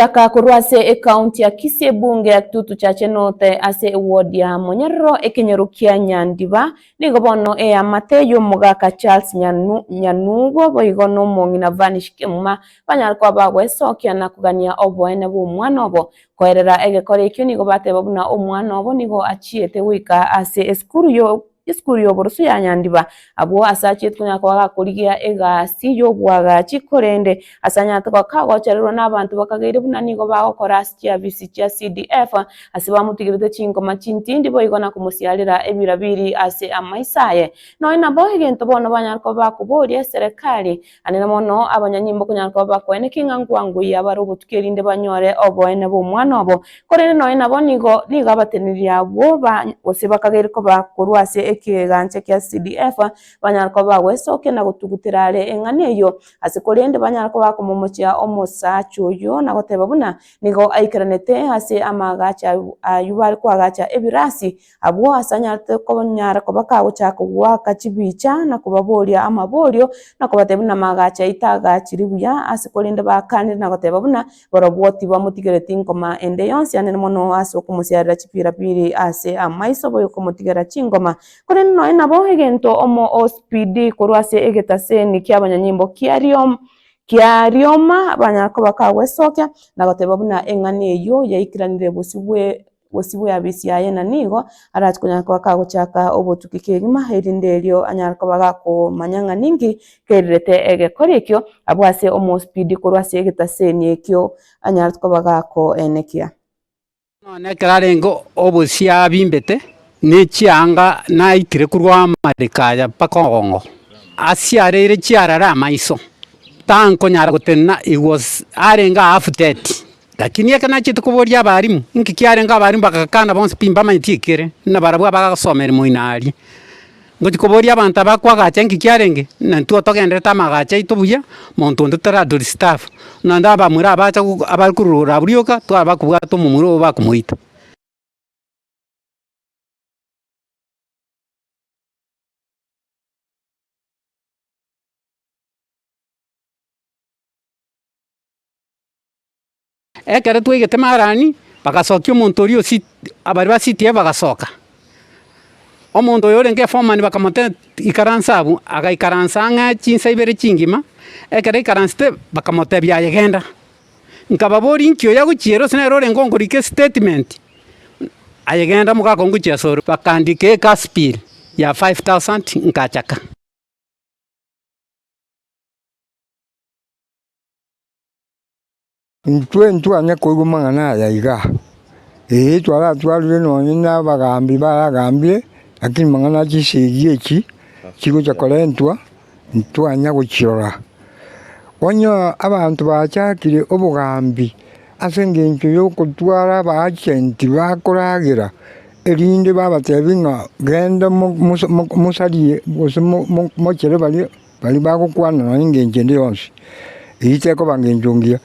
Omochaka korwa ase ecounty ya Kisii ebunge ya Kitutu Chache North ase eward ya Monyerero ekenyoro kia Nyandiba nigo bono eamate y'omogaka Charles Nyanu Nyanugwa boigo nomong'ina Vanish Kimuma banyare koba bagwesokia na kogania oboene bw'omwana obo. Koerera egekora ekio nigo bateba buna omwana obo nigo achiete goika ase esukuru yo Esukuru y'oboroso ya Nyandiba. Abwo ase achetwe ng'a akaba gakorigia egasi y'oboagachi, korende ase Nyatogoko kagochererwa nabanto bakageire buna nigo bagokora ase chiafisi chia CDF, ase bamotigerete chingoma chintindi boigo na komosiarera ebirabiri ase amaiso aye. Nonya nabo egento bono banyare koba bakoboria eserekari, Aye nabono abanyanyimbo konyara koba bakoene king'angwangu y'abare obotukia erinde banyore oboene bw'omwana obo, korende nonya nabo nigo nigo abateneneri abwo ba gose bakageire koba korwa ase ekegancha kia CDF, banyara koba bagwesokia na gotugutera are eng'ana eyio ase korende banyara koba bakomomochia omosacha oyio na goteba buna nigo aikaranete ase amaagacho ayio ayio bare koagacha ebirasi Abwo ase anyarete konyara koba kagochaka goaka chibicha, na kobaboria amaborio, na kobatebia buna amaagacho aito agaachire buya, ase korende baakanire na goteba buna barobwo tibamotigereti ngoma ende yonsi anene mono ase okomosiarera chipirapiri ase amaiso boigo komotigera chingoma. Korende nonya nabo egento omospidi korwa ase egetaseni ki'abanyanyimbo kia riom kia rioma banyara koba kagwesokia na goteba buna eng'ana eyio yaikaranire bosio bwe. Bosio bw'eabisi yaye na nigo arache konyara koba kagochaka obotuki kegima, erinde erio anyare koba gakomanya ng'a ninki kerirete egekori ekio abwo ase omospeed korwa ase egetaseni ekio anyare koba gakoenekia. Nonye ekero arenge obosie abimbete nechianga naikire korwa amariko aya mpaka obongo, asiareire chiarare amaiso, tankonyara gotenena he was arenge half dead. Lakini ekero nachete koboria abarimu inki kiarenge abarimu bagakana bonsi pi mbamanyeti ekere, buna barabwo abagosoma erimo ino aria. Ngochia koboria abanto aba kwa agacha inki kiarenge, buna intwe togendererete amagacha aito buya, monto onde tara to disturb, buna onde abamura abacha goku abare korora abwo rioka, twaba kobwata omomura obo bakomoita. Ekero twaigete Marani, bagasokia omonto oria osi, abaria ba city eye bagasoka. Omonto oyo orenge foreman bakamotebia, ikaransa abwo, agaikaransa ang'e chinsa ibere chingima, ekero aikaransete, bakamotebia aye genda. Nkababoria inki oyo agochiera gose nere orenge okorika estatement? Aye genda omogaka ngochia ase ore. Bakaandika egas bill ya five thousand, nkachaka. Intwe ntibwani koigwa amang'ana aya iga. Ee, twaratwarire nonya nabagambi baragambie, lakini amang'ana a chisegi echi chigocha korentwa, intitwanya gochirora. Onye abanto bachakire obogambi ase engencho y'ogotwara abaagenti bakoragera, erinde babatebi ng'a genda mosarie gose mochere baria. Baria bagokwana nonya engencho ende yonsi, eyio tekoba ngencho ngiya.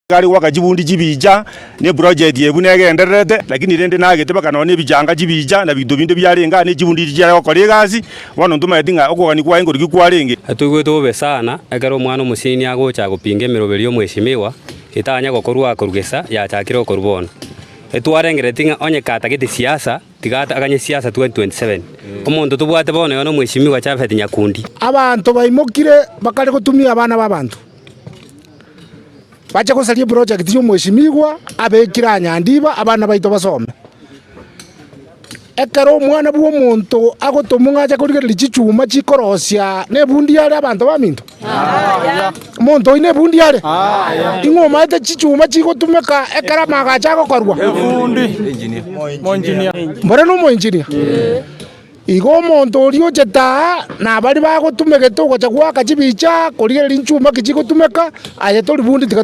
Gari gwaka chibundi chibicha ne project eye buna egendererete lakini rende nagete mpaka nonya ebichanga chibicha na binto binde biarenge aa ne chibundi echi chiare gokora egasi bono ntomanyeti ng'a okogania kwaye nkoria ki kwarenge. Natoigwete bobe sana ekero omwana omoseni agocha gopinga emeroberi y'omwesimiwa, Etanya gokorua akorua gesa yachakire okorua bono. Etwarengereti ng'a onye katagete siasa, tiga ataganye siasa 2027. Omonto tobwate bono yono Mweshimiwa Japhet Nyakundi. Abanto baimokire bakare gotumia abana b'abanto bache gosaria eprojekti y'omweshimiwa abekire Anyandiba abana baito basome. Ekero Omwana bw'omonto agotomwa ng'a ache korigereria chichuma chikorosia, nebundi are abanto baminto? Aye. Omonto oyi nebundi are? Aye. Ing'o omanyete chichuma chigotumeka ekero amago ache agokorwa? Ebundi. Moinjinia. Mbore nomoinjinia? Igo omonto oria ochete aa, na baria bagotumegete ogocha goaka chibicha korigereria nchuma ki chigotumeka, aye tori bundi tiga to.